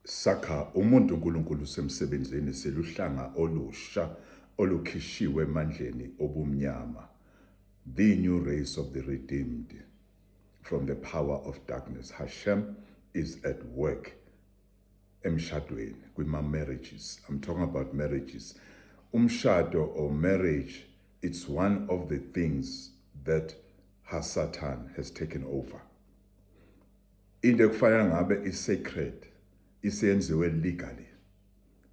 Sakha umuntu uNkulunkulu usemsebenzini siluhlanga olusha olukhishiwe emandleni obumnyama, the new race of the redeemed from the power of darkness. Hashem is at work emshadweni kwima marriages i'm talking about marriages umshado or marriage it's one of the things that hasatan has taken over into ekufanele ngabe isecret isenziwe legally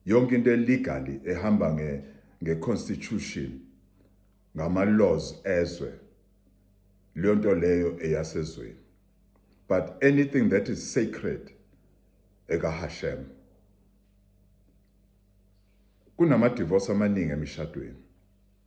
yonke into elegally ehamba nge ngeconstitution ngama laws ezwe leyo nto leyo eyasezweni but anything that is sacred ekahashem kunama divorce amaningi emishadweni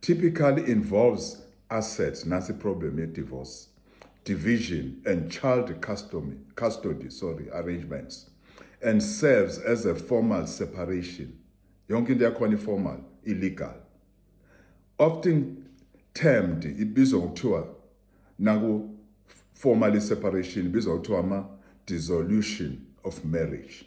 typically involves assets nasi problem ye divorce division and child custody, custody sorry arrangements and serves as a formal separation yonke into yakhona i-formal illegal often termed ibizwa ngokuthiwa naku formal separation ibizwa ngokuthiwa ama dissolution of marriage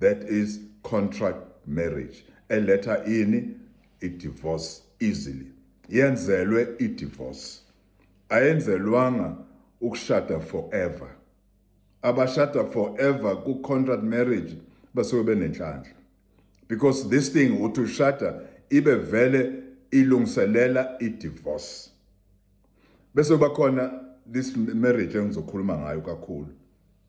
that is contract marriage eletha ini idivorce easily yenzelwe idivorce ayenzelwanga ukushada forever abashada forever ku-contract marriage basuke benenhlanhla because this thing uthi ushada ibe vele ilungiselela i-divorce bese kuba khona this marriage engizokhuluma ngayo kakhulu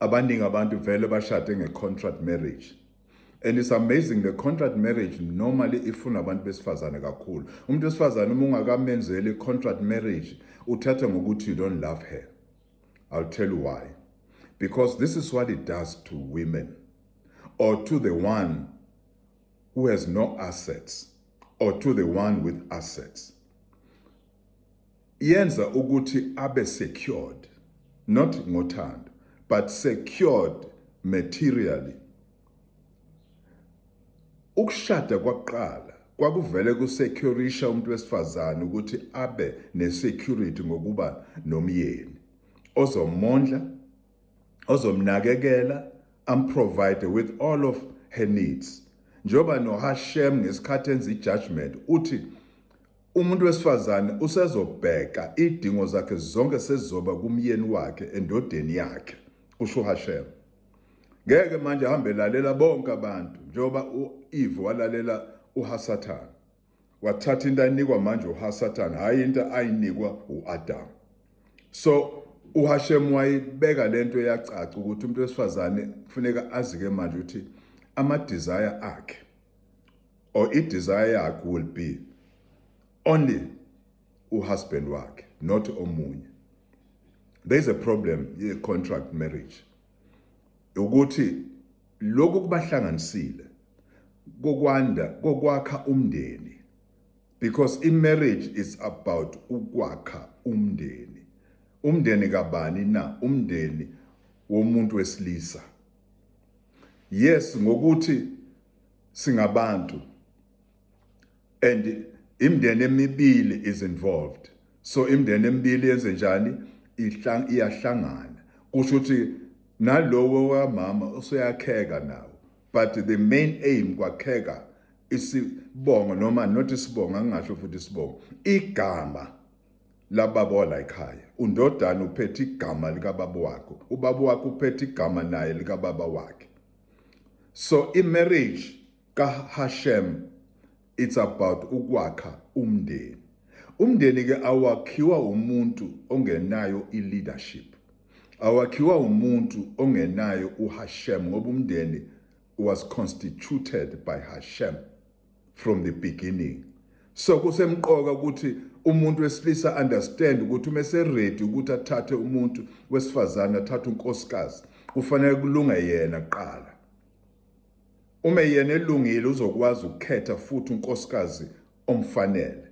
abaningi abantu vele bashade nge-contract marriage and it's amazing the contract marriage normally ifuna abantu besifazane kakhulu umuntu wesifazane uma ungakamenzeli contract marriage uthatha ngokuthi you don't love her i'll tell you why because this is what it does to women or to the one who has no assets or to the one with assets yenza ukuthi abe secured not ngothando but secured materially ukushada kwakuqala kwakuvele kusecurisha umuntu wesifazane ukuthi abe nesecurity ngokuba nomyeni ozomondla ozomnakekela amprovide with all of her needs njengoba noHashem ngesikhathi enza ijudgment uthi Umuntu wesifazane usezobheka idingo zakhe zonke sezizoba kumyeni wakhe endodeni yakhe, kusho uHashema. Ngeke manje ahambe lalela bonke abantu njengoba u-Eve walalela uHasathane. Wathatha into ayinikwa manje uHasathane, hhayi into ayinikwa u-Adamu. So uHashemu wayibeka le nto yacaca ukuthi umuntu wesifazane kufuneka azike manje ukuthi amadizaya akhe or i-desire yakho will be only uhusband wakhe not omunye there is a problem ye-contract marriage ukuthi lokhu kubahlanganisile kokwanda kokwakha umndeni because i-marriage is about ukwakha umndeni umndeni kabani na umndeni womuntu wesilisa yes ngokuthi singabantu and imndeni emibili is involved so imndeni emibili yenze njani iyahlangana kusho ukuthi nalowo wamama useyakheka nawo but the main aim kwakheka isibongo noma not isibongo angingasho futhi isibongo igama lababa walayikhaya undodana uphethe igama likababa wakho ubaba wakho uphethe igama naye likababa wakhe so imarriage kaHashem it's about ukwakha umndeni umndeni ke awakhiwa umuntu ongenayo ileadership awakhiwa umuntu ongenayo uHashem ngoba umndeni was constituted by Hashem from the beginning so kusemqoka ukuthi umuntu wesilisa understand ukuthi uma eseready ukuthi athathe umuntu wesifazane athathe unkosikazi kufanele kulunga yena kuqala uma yena elungile uzokwazi ukukhetha futhi unkosikazi omfanele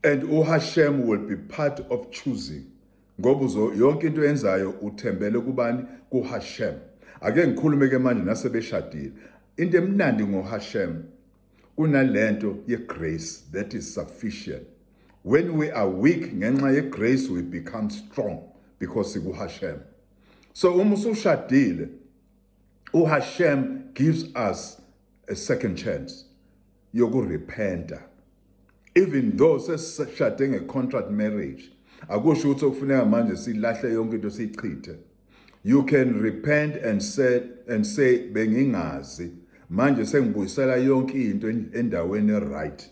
And uHashem will be part of choosing ngoba yonke into yenzayo uthembele kubani kuHashem ake ngikhulume ke manje nasebeshadile into emnandi ngoHashem kunalento yegrace that is sufficient when we are weak ngenxa yegrace we become strong because sikuHashem so uma usushadile uHashem gives us a second chance yokurepenta even though sesishade nge-contract marriage akusho ukuthi okufuneka manje silahle yonke into siyichithe you can repent and say, and say bengingazi manje sengibuyisela yonke into endaweni right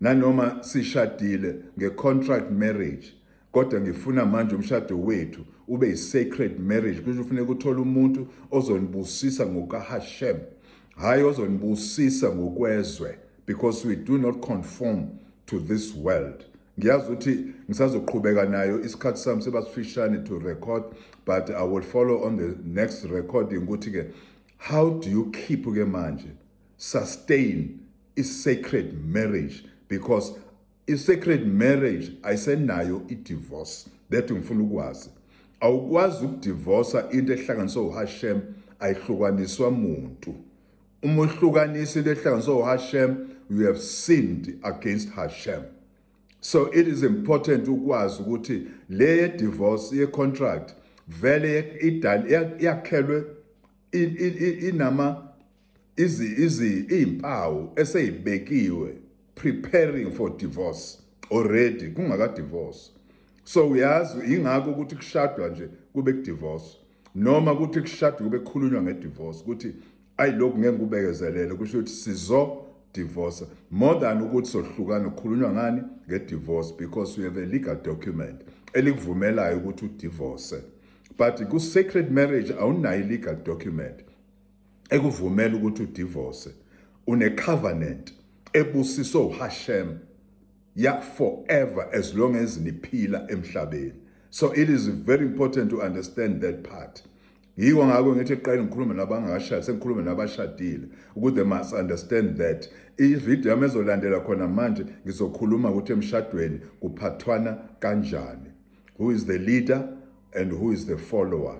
nanoma sishadile nge-contract marriage kodwa ngifuna manje umshado wethu ube yi-sacred marriage kusho ufuneka uthole umuntu ozonibusisa ngokahashem hhayi ozonibusisa ngokwezwe because we do not conform to this world ngiyazi ukuthi ngisazoqhubeka nayo isikhathi sami sebasifishane to record but i will follow on the next recording ukuthi-ke how do you keep ke manje sustain i-sacred marriage because I-sacred marriage ayisenayo i-divorce that ngifuna ukwazi awukwazi ukudivosa into ehlanganiswe uHashem ayihlukaniswa muntu uma uhlukanisa into ehlanganiswe uHashem you have sinned against Hashem so it is important ukwazi ukuthi le divorce ye contract vele idal yakhelwe inama izi izi izimpawu eseyibekiwe preparing for divorce already kungaka divorce so uyazi ingakho ukuthi kushadwa nje kube kudivorce noma ukuthi kushadwa kube kukhulunywa ngedivorce ukuthi ayi lokhu ngeke kubekezelele kusho ukuthi sizo divorce more than ukuthi sohlukana kukhulunywa ngani ngedivorce because we have a legal document elikuvumelayo ukuthi udivorce but ku sacred marriage awunayo legal document ekuvumela ukuthi udivorce unecovenant ebusiswe uHashem ya forever as long as niphila emhlabeni so it is very important to understand that part yiko ngakho ngithi qale ngikhulume nabangashadi sengikhulume nabashadile ukuthi they must understand that ivideo yami ezolandela khona manje ngizokhuluma ukuthi emshadweni kuphathwana kanjani who is the leader and who is the follower